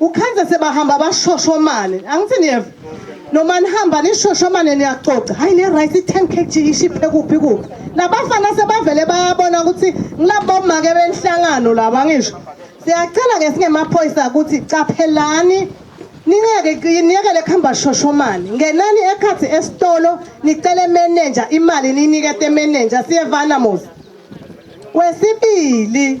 ukhenze sebahamba bashoshomane angithi niyeva noma nihamba nishoshomane niyacoca hayi ne-right i-ten kg ishiphe kuphi kuphi labafana sebavele bayabona ukuthi ngilabomake benhlangano laba ngisho siyacela-ke singemaphoyisa ukuthi caphelani ningeke niyekele kuhamba shoshomane ngenani ekhathi esitolo nicele menenja imali niyinikete menenja siyevana musa kwesibili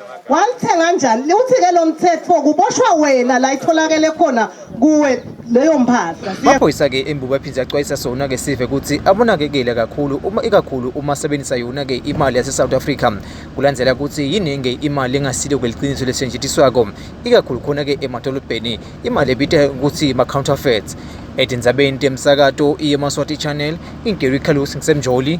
Walithenga njani? Liwuthi ke lo mthetho kuboshwa wena la itholakele khona kuwe leyo mpahla. Amaphoyisa ke embuba ephinde axwayisa sona ke sive ukuthi abonakekele kakhulu uma ikakhulu uma sebenzisa yona ke imali yase South Africa kulandela ukuthi yiningi imali engasile kweliqiniso lesenjitshiswako ikakhulu khona ke emadolobheni imali ebithe ukuthi ma counterfeits edinzabeni temsakato iye Maswati Channel ingeru ikhalusi ngisemjoli